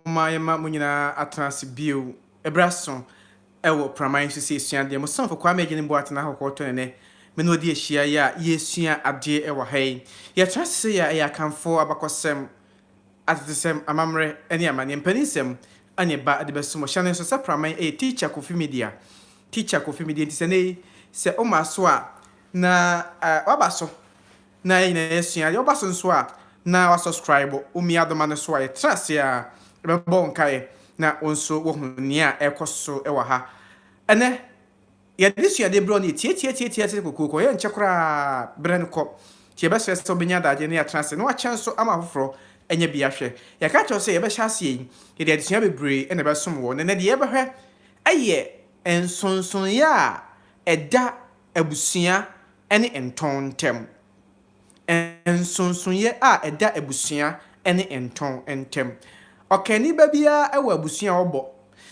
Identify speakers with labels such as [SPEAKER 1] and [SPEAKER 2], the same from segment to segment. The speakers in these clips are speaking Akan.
[SPEAKER 1] Momma yɛmma mo nyinaa atena ase bio bere aso wɔ Praman so sɛ yɛsua adeɛ. Mo somfo Kwame Agyenim Boateng Ahohotɔ ne nnɛ me ne wo de ahyia yi a yɛresua adeɛ wɔ ha yi. Yɛtena ase sɛ yɛ ɛyɛ Akanfoɔ abakɔsɛm, atetesɛm, amammerɛ ne amanneɛ, mpaninsɛm ne ɛba de bɛso mo. Hyɛ no nso sɛ Praman yɛ Teacher Kofi Media. Teacher Kofi Media nti sɛ nnɛ yi sɛ woma so a na woaba so Na yɛn nyinaa yɛasua. Yɛwɔ ba so nso a, na wasɔskraibo Omiadoma no so a yɛtra ase a yɛbɛbɔ wo nkaeɛ na wo nso woahu nea ɛrekɔ so wɔ ha. Ɛnnɛ, yɛde suadeɛ berɛ wo no yɛ tiatiatiatia te sɛ kokooko, ɛyɛ nkyɛ koraa berɛ no kɔ. Nti yɛbɛsrɛ sɛ wobɛnya adagyeɛ na yɛatena ase na woakyɛ nso ama afoforɔ anya bi ahwɛ. Yɛaka akyerɛ wo sɛ yɛbɛhyɛ aseɛ yi, yɛde adesua bebree na ɛbɛsom wo. Na ɛnnɛ deɛ yɛbɛhwɛ yɛ nsonsonoeɛ a ɛda abusua ne ntɔn ntam. Nsonsonoeɛ a ɛda abusua ne ntɔn ntam. Ɔkanni ba biara wɔ abusua a ɔbɔ,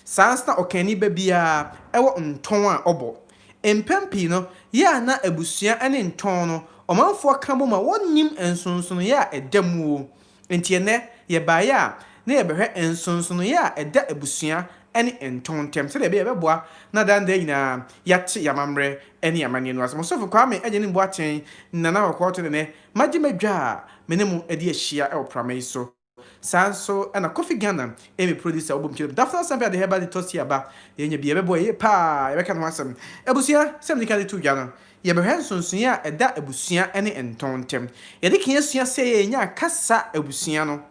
[SPEAKER 1] saa ara nso na ɔkanni ba biara wɔ ntɔn a ɔbɔ. Mpɛn pii no, yɛ a na abusua ne ntɔn no ɔmanfoɔ ka bom a wɔnnim nsonsonoeɛ a ɛda mu o, Enti ɛnnɛ, yɛ baeɛ a na yɛbɛhwɛ nsonsonoeɛ a ɛda abusua ne ntɔn ntam sɛdeɛ ɛbɛyɛ a ɛbɛboa na daa daa nyinaa yɛate y'amammerɛ ne y'amanneɛ no ase. Mo sofo Kwame Agyenim Boateng, Nana Kɔkɔɔ Tene ne magye m'adwa a me ne mo adi ahyia wɔ prama yi so. Saa nso na Kofi Ghana, Amy Producer, Wobom Kyerem, Daphne Asante Adeheba de Tosia ba. Yɛanya bi a ɛbɛboa yɛn yie paa a yɛbɛka ne ho asɛm. Abusua, sɛdeɛ medi kan de too dwa no, Yɛbɛhwɛ nsonsonoeɛ a ɛda abusua ne ntɔn ntam. Yɛde kan asua sɛ yɛnya kasa abusua no.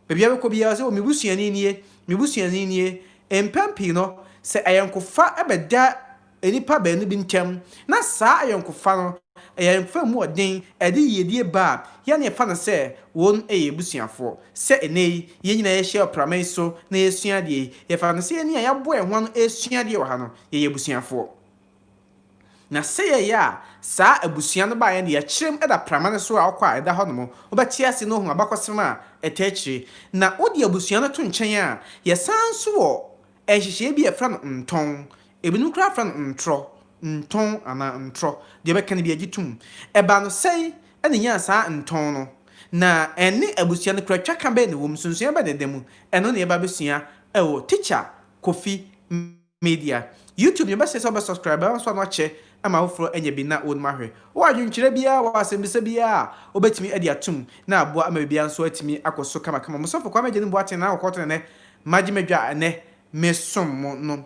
[SPEAKER 1] Baabi a wobɛkɔ biara sɛ, o me busuani nie, me busuani nie. Mpɛn pii no, sɛ ayɔnkofa bɛda nnipa baanu bi ntam na saa ayɔnkofa no yɛ ayɔnkofa a emu wɔ den, ɛde yiedie ba a, yɛn na yɛfa no sɛ wɔyɛ abusuafoɔ. Sɛ ɛnnɛ yi, yɛn nyinaa yɛahyia wɔ prama yi so na yɛresua adeɛ yi, yɛfa no sɛ yɛn ne a yɛaboa yɛn ho ano resua adeɛ wɔ ha no, yɛyɛ abusuafoɔ. Na sɛ yɛyɛ a, saa abusua no baeɛ no yɛkyere mu da prama no so a ɔkɔ a ɛda hɔ nom, wobɛte ase na woahu abakɔsɛm a ɛtaa akyire. Na wode abusua no to nkyɛn a, yɛsan nso wɔ nhyehyɛeɛ bi a yɛfrɛ no ntɔn, ebinom koraa frɛ no ntorɔ, ntɔn anaa ntorɔ, deɛ wobɛka no biara gye tom. Ɛbaa no sɛn na ɛnyaa saa ntɔn no, na ɛne abusua no kura twaka bɛn na ɛwɔ mu, nsonsonoeɛ bɛn na ɛda mu, ɛno na yɛbɛba abɛsua wɔ Tikya Kofi. media. YouTube deɛ ɔbɛsɛ sɛ ɔbɛ subscribe ɛwɔ nso ano akyɛ ama afoforɔ anya bi na wɔnom ahwɛ. Wɔ adwenkyerɛ biara wɔ asɛmbisa biara a wobɛtumi adi atom na aboa ama biribiara nso atumi akɔ so kamakama. Mo sɔfo Kwame Agyenim Boateng Nana Kɔkɔɔ Tenenɛ Magye Madwa a ɛnɛ me som mo no.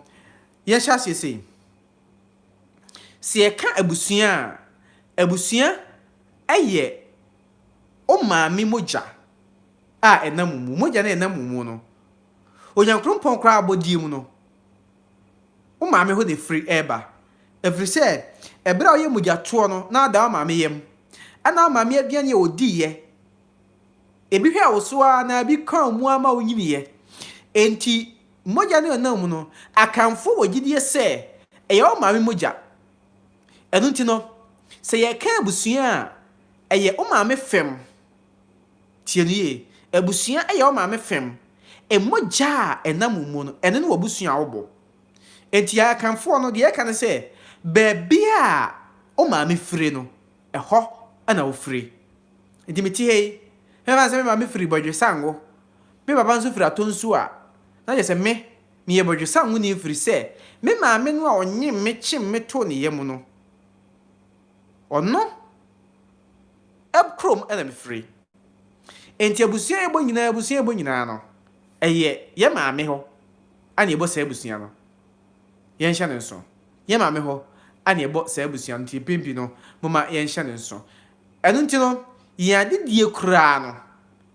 [SPEAKER 1] Yɛn hyɛ aseɛ sei. Sɛ yɛka abusua a, abusua ɛyɛ wo maame mogya a ɛnam wo mu. Mogya no a ɛnam wo mu no. Onyankrompɔn koraa abɔdeɛ mu no, wo maame hɔ na ɛfiri reba. Ɛfiri sɛ, ɛberɛ a woyɛ mogyatoɔ no, na woda wo maame yam. Ɛna wo maame aduane a ɔdiiɛ, ebi hwɛɛ wo so ara na ebi kaa wo mu ara ma wonyiniiɛ. Enti, mogya no a ɛnam wo mu no, Akanfoɔ wɔ gyidie sɛ ɛyɛ wo maame mogya. Ɛno nti no, sɛ yɛreka abusua a, ɛyɛ wo maame fam Tie no yie. Abusua yɛ wo maame fam. Mogya a ɛnam wo mu no, ɛno ne w'abusua a wobɔ. Enti yɛn Akanfoɔ no, deɛ yɛka ne sɛ, baabi a wo maame fire no, ɛhɔ na wofire. Enti mete ha yi, ɛmfa ne sɛ me maame firi Bɔdwesango, me papa nso firi Atonsuo a, na kyerɛ sɛ me, meyɛ Bɔdwesangoni ɛfiri sɛ, me maame no a ɔnyem me, kyem me too ne yam no, Ɔno kurom na mefiri. Nti abusua a yɛbɔ nyinaa abusua a yɛbɔ nyinaa no, ɛyɛ yɛn maame hɔ na yɛbɔ saa abusua no. Yɛnhyɛ no nso. Yɛn maame hɔ na yɛbɔ saa abusua no, nti mpɛn pii no, momma yɛnhyɛ no nso. Ɛno nti no, yɛn adedie koraa no,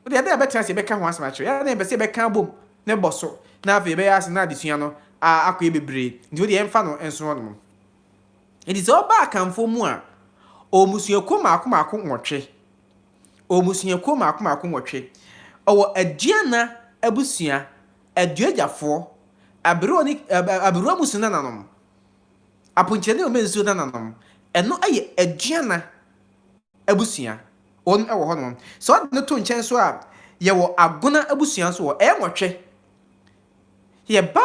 [SPEAKER 1] wodeɛ ɛda a yɛbɛtena ase yɛbɛka ho asɛm akyerɛ. Yɛn na yɛpɛ sɛ yɛbɛka abom na ɛbɔ so, na afei yɛbɛyɛ ase na adesua no akɔyɛ bebree. Nti wodeɛ yɛmfa no nso hɔnom. Enti sɛ ɔba Akanfoɔ mu a, ɔwɔ mmusuakuo mmaako mmaako nwɔtwe. Ɔwɔ mmusuakuo mmaako mmaako nwɔtwe. Ɔwɔ Aduana abusua, Aduagyafoɔ, Aberewa ne ɛ ɛ Aberewa mmusua nananom, Aponkyerɛ ne Omensuo nananom. Ɛno yɛ Aduana abusua. Wɔn wɔ hɔnom. Sɛ wode no to nkyɛn nso a, yɛwɔ Agona abusua nso wɔ hɔ. Ɛyɛ nwɔtwe. Yɛba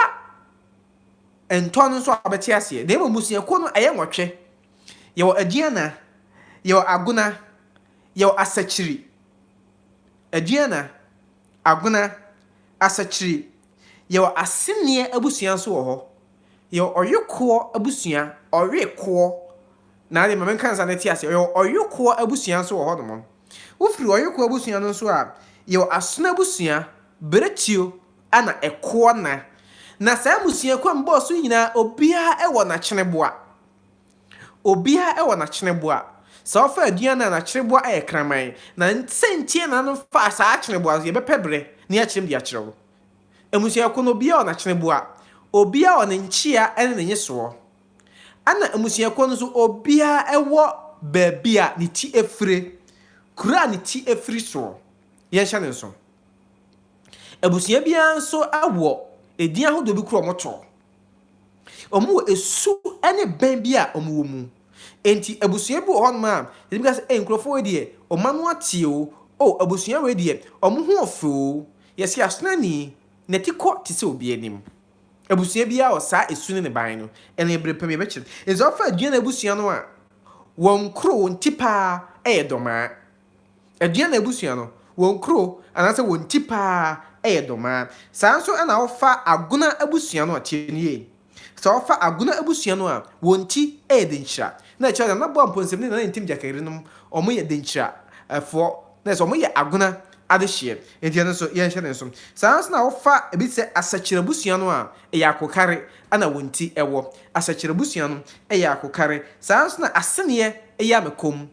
[SPEAKER 1] ntɔ no nso a, wobɛte aseɛ. Na mmom mmusuakuo no, ɛyɛ nwɔtwe. Yɛwɔ Aduana, yɛwɔ Agona, yɛwɔ Asakyiri. Aduana, Agona, Asakyiri. Yɛwɔ Aseneɛ abusua nso wɔ hɔ. Yɛwɔ Ɔwekoɔ abusua, Ɔwekoɔ, na deɛ ma menka no saa na ate aseɛ. Yɛwɔ Ɔwekoɔ abusua nso wɔ hɔnom. Wofiri Ɔwekoɔ abusua no nso a, yɛwɔ Asono abusua, Berɛtuo, na ɛkoɔ na na saa mmusuakuo a mebɔɔ so nyinaa obiara wɔ n'akyeneboa obiara wɔ n'akyeneboa sɛ ɔfa aduan no a n'akyeneboa yɛ kraman na sɛ ntie na no fa saa akyeneboa no yɛbɛpɛ berɛ ne akyerɛm de akyerɛ wo mmusuakuo no obiara wɔ n'akyeneboa obiara wɔ ne nkyea ne ne nyesoɔ ɛna mmusuakuo no nso obiara wɔ baabi a ne ti afire kuro a ne ti afiri soɔ yɛnhyɛ ne nso. Abusua biara nso wɔ edin ahodoɔ bi koro a wɔtɔ. Wɔwɔ esu ne bɛn bi a wɔwɔ mu. Enti abusua bi wɔ hɔnom a, yɛtumi ka sɛ, ei nkurɔfoɔ wei deɛ, wɔn ano ateɛ o, o abusua wei deɛ, wɔn ho yɛ fɛ o, yɛse Asonani, n'ati kɔ te sɛ obi anim. Abusua biara wɔ saa esu ne ne ban no, ɛne bere pa bi ɛbɛkyerɛ. Enti sɛ wɔfa Aduane abusua no a, wɔn koro, wɔn ti paa yɛ Dɔmaa. Aduana abusua no, wɔn kuro anaasɛ wɔn ti pa ara yɛ Domaa. Saa ara nso na wofa Agona abusua no a, tie no yie, sɛ wofa Agona abusua no a, wɔn ti yɛ Denkyira. Na ɛkyerɛ Nana Boa Mponsim ne Nana Ntim Gyaka yerenom, wɔyɛ Denkyirafoɔ, na ɛsɛ sɛ wɔyɛ Agona adehyeɛ. Enti ɛno nso, yɛnhyɛ no nso. Saa ara nso na wofa ebi te sɛ Asakyire abusua no a, ɛyɛ Akokare na wɔn ti wɔ. Asakyire abusua no yɛ Akokare. Saa ara nso na Aseneɛ yɛ Amekom.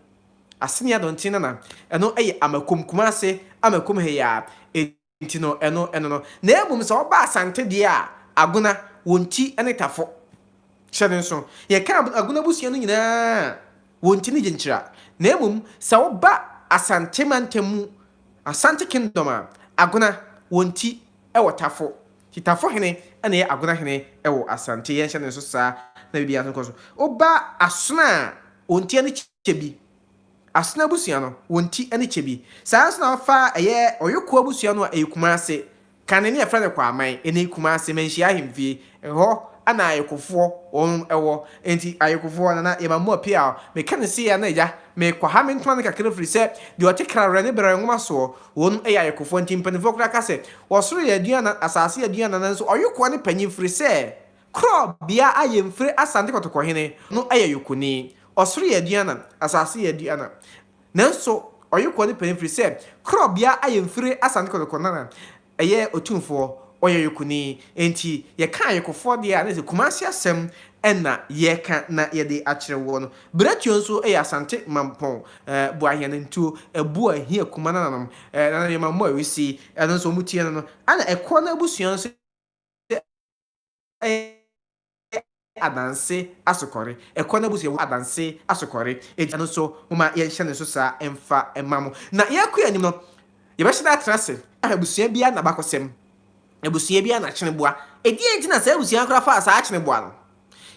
[SPEAKER 1] Ase ne adɔnten nana. Ɛno yɛ Amakom, Kumase, Amakom ha yi ara. Enti no, ɛno, ɛno no. Na mmom sɛ woba Asante deɛ a, Agona, wɔn ti ne Tafo. Hyɛ no nso. Yɛka ab, Agona abusua no nyinaa a, wɔn ti ne Gyenkyira. Na mmom sɛ woba Asante mantam mu, Asante Kingdom a, Agona, wɔn ti wɔ Tafo. Kitafo hene na ɛyɛ Agona hene wɔ Asante. Yɛnhyɛ no nso saa na biribiara nso nkɔ so. Woba Asona a, wɔn ti ne kyɛ bi. Asona abusua no, wɔn ti ne kyɛ bi. Saa ara nso na wofa ɛyɛ Ɔyokoɔ abusua no a, ɛyɛ Kumase. Kane na wɔfrɛ no Kwaaman. Ɛnɛ Kumase, Manhyia Ahemfie, ɛhɔ na Ayokofoɔ wɔn wɔ. Enti Ayokofoɔ, Nana Yɛma mo Apiaw. Meka no sei a na agya, mekwaha me ntoma no kakra ɛfiri sɛ deɛ ɔte kra werɛ ne brɛ nwoma soɔ. Won yɛ ayokofoɔ nti mpaninfoɔ koraa ka sɛ ɔsoro yɛ aduanan asase yɛ aduanan nanso ɔyokoɔ ne panyin firi sɛ korɔ bea a yɛn firi asante kɔtɔkɔhene no yɛ yokoni ɔsoro yɛ aduanan asase yɛ aduanan nanso ɔyokoɔ ne panyin firi sɛ korɔ bea a yɛn firi asante kɔtɔkɔnana yɛ otumfoɔ ɔyɛ yokoni nti yɛka ayokofoɔ deɛ a na sɛ kumase asɛm na yɛka na yɛde akyerɛ woɔ no. Berɛtuo nso yɛ Asante Mampɔn Boahianantuo, Abua, Hia, Kuma nananom, Nana Nneɛma Mmɔ Awisi, ɛno nso wɔn tie no no, ɛna ɛkoɔ no abusua nso yɛ Adanse Asokɔre, ɛkoɔ no abusua wɔ Adanse Asokɔre, enti ɛno nso momma yɛnhyɛ no nso saa mfa mma mo. Na yɛrekɔ yɛn anim no, yɛbɛhyɛ da atena ase ahwɛ abusua biara n'abakɔsɛm, abusua biara n'akyeneboa, ɛdeɛn nti na saa abusua no koraa faa saa akyeneboa no,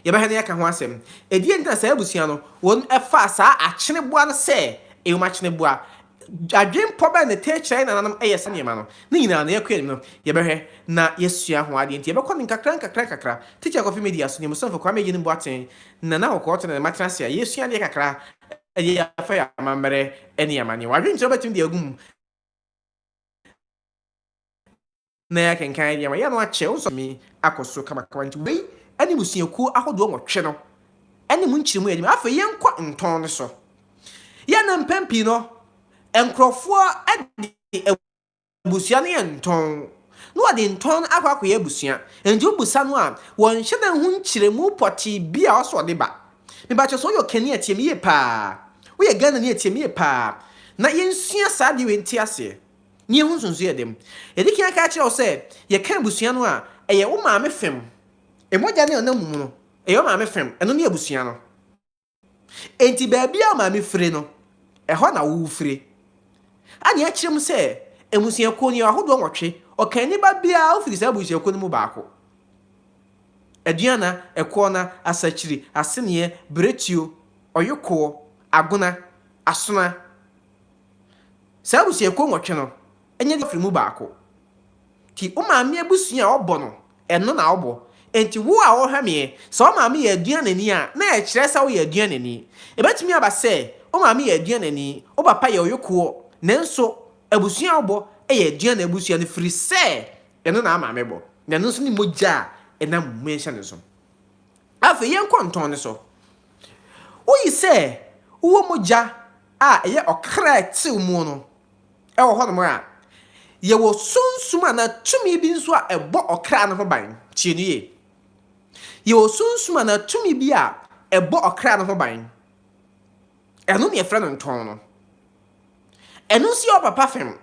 [SPEAKER 1] Yɛbɛhwɛ na yɛaka ho asɛm. Ɛdeɛn nti na saa abusua no, wɔfaa saa akyeneboa no sɛ ewom akyeneboa? Adwenpɔ bɛn na ɛtaa kyerɛ yɛn nananom yɛ saa nneɛma no? Ne nyinaa no, yɛkɔ yɛn anim no, yɛbɛhwɛ na yɛasua ho adeɛ. Enti yɛbɛkɔ no nkakrankakra. Tikya Kofi Media so, Nyamesurofo Kwame Eyenim Boateng, Nana Awoko-Otto ne ne mma tena ase a yɛresua adeɛ kakra de afa yɛn amammerɛ ne yɛn amanneɛ. W'adwenkyerɛ bɛtumi de agu mu. na yɛakenkan deɛ wɔayɛ no akyɛ, wosɔ tumi akɔ so kamakama, nti wei ne mmusuakuo ahodoɔ nwɔtwe no ne mu nkyerɛmu a yɛde ma. Afei yɛnkɔ ntɔn no so. Yɛn na mpɛn pii no, nkurɔfoɔ de abusua no yɛ ntɔn, na wɔde ntɔn no akɔ akɔyɛ abusua, nti wobusa no a, wɔnhyɛ da nhu nkyerɛmu pɔtee bi a ɔsɛ ɔde ba. Mebakyɛ sɛ woyɛ ɔkani a, tie me yie paa, woyɛ Ghanani a, tie me yie paa, na yɛnsua saa adeɛ wei nte aseɛ. Nea ɛho nso nso yɛ den. Yɛadi kan aka akyerɛ wo sɛ yɛka abusua no a, ɛyɛ wo maame fam. Mogya no a ɛnam wo mu no, ɛyɛ wo maame fam. Ɛno ne abusua no. Enti baabi a wo maame fire no, ɛhɔ na wo wofire. Anne akyerɛ mu sɛ, Mmusuakuo no, yɛwɔ ahodoɔ nwɔtwe. Ɔkanni ba biara, wofiri saa abusuakuo no mu baako. Aduana, Ɛkoɔna, Asakyiri, Aseneɛ, Biretuo, Ɔyokoɔ, Agona, Asona, Saa abusuakuo nwɔtwe no nyɛ deɛ ɔfiri mu baako. Nti wo maame abusua a ɔbɔ no, ɛno na wobɔ. Nti wo a ɔrehwɛ meɛ, sɛ wo maame yɛ aduanani a, na ɛkyerɛ sɛ woyɛ aduanani. Ɛbɛtumi aba sɛ wo maame yɛ aduanani, wo papa yɛ ɔyokoɔ, nanso abusua a wobɔ yɛ aduane abusua no firi sɛ ɛno na wo maame bɔ. Na ɛno nso ne mogya a ɛnam mu nhyɛ no nso. Afei yɛnkɔ ntɔn no so. Woyi sɛ wowɔ mogya a ɛyɛ ɔkra tew mu no wɔ hɔnom a, yɛwɔ sunsum anaa tumi bi nso a ɛbɔ ɔkra no ho ban. Tie no yie. Yɛwɔ sunsum anaa tumi bi a ɛbɔ ɔkra no ho ban. Ɛno na yɛfrɛ no ntɔn no. Ɛno nso yɛ wo papa fam.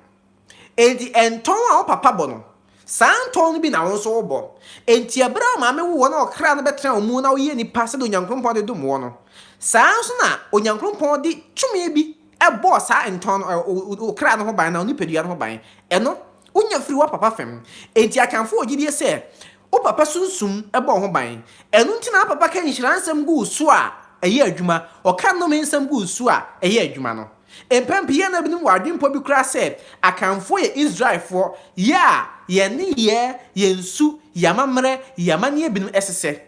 [SPEAKER 1] Enti ntɔn a wo papa bɔ no, saa ntɔn no bi na wo nso wobɔ. Enti ɛberɛ a wo maame woo wo na ɔkra no bɛtena wo mu na woyɛɛ nnipa sɛdeɛ Onyankrompɔn de dom woɔ no, saa ara nso na Onyankrompɔn de tumi bi bɔɔ saa ntɔn no, wo kra no ho ban anaa wo nipadua no ho ban. Ɛno, wonya firi wo papa fam. Enti Akanfoɔ wɔ gyidie sɛ, wo papa sunsum bɔ wo ho ban. Ɛno nti na wo papa ka nhyira nsɛm gu wo so a, ɛyɛ adwuma. Ɔka nnome nsɛm gu wo so a, ɛyɛ adwuma no. Mpɛn pii yɛn na binom wɔ adwempɔ bi koraa sɛ Akanfoɔ yɛ Israelfoɔ, yɛ a yɛn nneyɛɛ, yɛn su, yɛn amammerɛ, yɛn amanneɛ binom ɛsesɛ.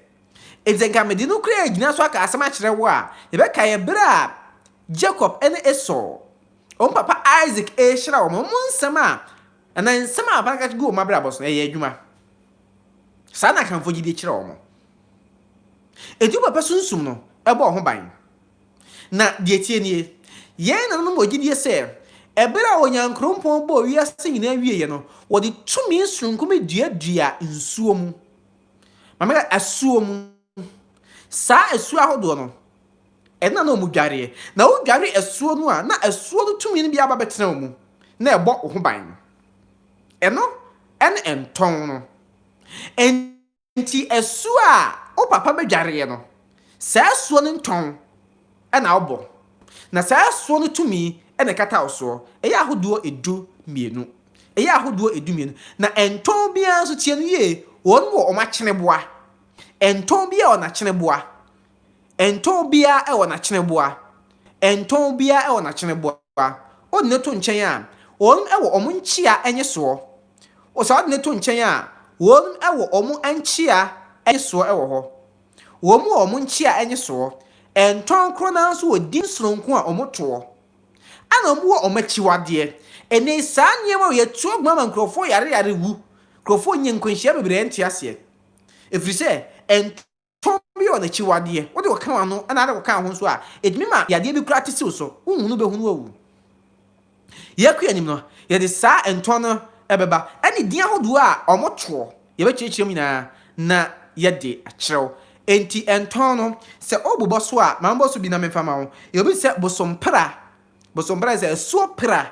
[SPEAKER 1] Enti sɛ nka mede nokorɛ a ɛgyina so aka asɛm akyerɛ wo a, yɛbɛkae ɛberɛ a Jacob ne Esau, wɔn papa Isaac rehyira wɔn, wɔn nsɛm a, anaa nsɛm a papa no ka gu wɔn abrabɔ so no, ɛyɛɛ adwuma. Saa na Akanfoɔ gyidie kyerɛ wɔn. Enti wo papa sunsum no ɛbɔ wo ho ban. Na deɛ ɛteɛ nie, yɛn nananom wɔ gyidie sɛ ɛberɛ a Onyankrompɔn bɔɔ wiase nyinaa wieeɛ no, wɔde tumi sononko bi duaduaa nsuo mu. Ma meka asuo mu. Saa asuo ahodoɔ no, ɛno na na wɔdwareɛ. Na wodware asuo no a, na asuo no tumi no bi aba bɛtena wo mu, na ɛbɔ wo ho ban. Ɛno ne ntɔn no. Enti asuo a wo papa bɛdwareɛ no, saa asuo no ntɔn na wobɔ, na saa asuo no tumi na ɛkata wo soɔ. Ɛyɛ ahodoɔ du mmienu. Ɛyɛ ahodoɔ du mmienu. Na ɛntɔn biara nso, tie no yie, wɔn wɔ wɔn akyeneboa. Ɛntɔn biara wɔ n'akyeneboa. Ɛntɔn biara wɔ n'akyeneboa. Ɛntɔn biara wɔ n'akyeneboa. Wode no to nkyɛn a, wɔn wɔ wɔn nkyea nye soɔ. Wɔsɔ ade no to nkyɛn a, wɔn wɔ wɔn nkyea nye soɔ wɔ hɔ. Wɔn wɔ wɔn nkyea nye soɔ, ntɔn korɔ no ara nso wɔ din sononko a wɔn toɔ. Ɛna wɔn wɔ wɔn akyiwadeɛ. Ɛnɛ yi saa nneɛma wei ɛtu agumaa ma nkurɔfoɔ yare yare wu. Nkurɔfoɔ nya nkwanhyia bebree a ɛnte aseɛ. Ɛfiri sɛ, ntɔn. Tɔn bi yɛ ɔnakyiwadeɛ. Wode wo ka w'ano na ara woka wo ho nso a, ɛtumi ma yadeɛ bi koraa te siw so. Wohu no bɛhunu awu. Yɛkɔ yɛn anim no, yɛde saa ntɔn no bɛba, ɛne din ahodoɔ a wɔtoɔ. Yɛbɛkyerɛkyerɛ mu nyinaa na yɛde akyerɛw. Enti ntɔn no, sɛ wobobɔ so a, ma mebɔ so bi na memfa ma wo. Yɛ obi te sɛ bosompra. Bosompra yɛ sɛ asuo pra.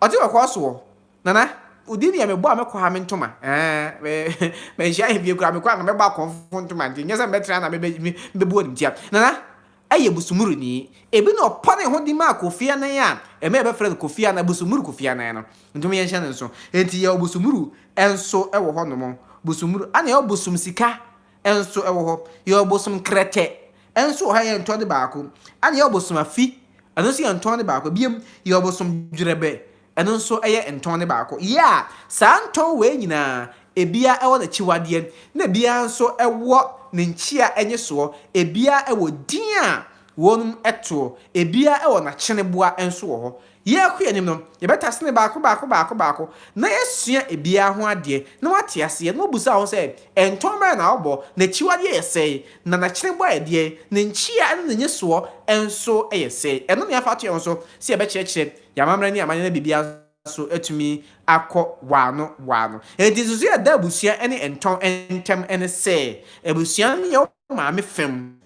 [SPEAKER 1] Ɔte wɔ kɔɔ soɔ. Nana, wodin yɛ me bɔ a me kɔ ha me ntoma ɛɛ me manhyia yɛ bie koraa me kɔ a nka mɛbɔ akɔmfo ntoma nti nyɛ sɛ me bɛtena na me bɛ me bɛbu animtia Nana ɛyɛ Busumuruni ebi na ɔpɔ ne ho de maa Kofi Anan a ɛma yɛ bɛfrɛ no Kofi Anan Busumuru Kofi Anan no nti mo yɛ nhyɛ ne nso enti yɛ wɔ Busumuru ɛnso ɛwɔ hɔ nom Busumuru ana yɛ wɔ Busum Sika nso wɔ hɔ, yɛwɔ ɔbosom Krɛtɛ nso wɔ hɔ a yɛn ntɔn de baako, ɛna yɛwɔ ɔbosom Afi, ɛno nso yɛn ntɔn de baako, biom yɛwɔ ɔbosom Dwerɛbɛ, ɛno nso yɛ ntɔn de baako. Yɛ a, saa ntɔn wei nyinaa, ɛbia ɛwɔ n'akyiwadeɛ, na ɛbia nso ɛwɔ ne nkyea ɛnyesoɔ, ɛbia ɛwɔ din a wɔnom toɔ, ɛbia ɛwɔ n'akyeneboa nso wɔ hɔ, Yɛrekɔ yɛn anim no, yɛbɛtasene baako baako baako baako na yɛasua ebiara ho adeɛ na woate aseɛ na wɔbisa wo sɛ, Ntɔn bɛn na wobɔ? N'akyiwadeɛ yɛ sɛn? Na n'akyenebɔ yɛ deɛn? Ne nkyea ne ne nnyesoɔ nso yɛ sɛn? Ɛno na yɛafa ato yɛn ho so sɛ yɛbɛkyerɛkyerɛ yɛn amammerɛ ne yɛn amanneɛ na biribiara nso atumi akɔ waano waano. Enti nsusuiɛ a ɛda abusua ne ntɔn ntam ne sɛ, abusua no yɛ wo maame fam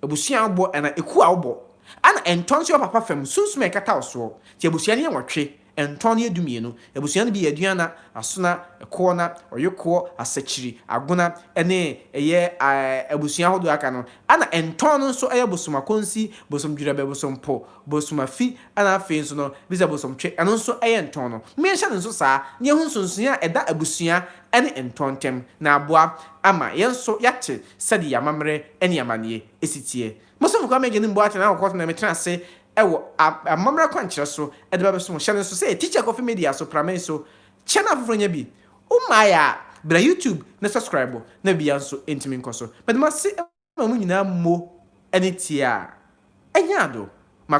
[SPEAKER 1] abusua a wobɔ anaa ekuo a wobɔ, ɛna ntɔn nso yɛ wopapa fam sunsum a ɛkata wo soɔ. Nti abusua no yɛ nwɔtwe, ntɔn no yɛ du mmienu. Abusua no bi yɛ Aduana, Asona, Ɛkoɔna, Ɔyokoɔ, Asakyiri, Agona, ɛne ɛyɛ abusua ahodoɔ a aka no. Ɛna ntɔn no nso yɛ Bosom Akonsi, Bosom Dwerɛbɛ, Bosom Po, Bosom Afi, ɛna afei nso no bi sɛ Bosom Twe, ɛno nso yɛ ntɔn no. Mo yɛnhyɛ no nso saa na yɛhu nsonsonoeɛ a ɛda abusua ne ntɔ ntam, na aboa ama yɛn nso yɛate sɛdeɛ yɛn amammerɛ ne amanneɛ si teɛ. Mo sɛ mokura m'Agya no mu boaten ara kɔkɔ na metena ase wɔ amammerɛ kwankyerɛ so de ba bɛsom. Hyɛ no nso sɛ Teacher Kofi Media so, pra me so, kyɛ na afoforɔ nya bi. Wommaeɛ a, bra YouTube na subscribe na biribiara nso ntumi nkɔ so. Meda mo ase ma mo nyinaa mo ani tiaa. Ɛnyɛ ado.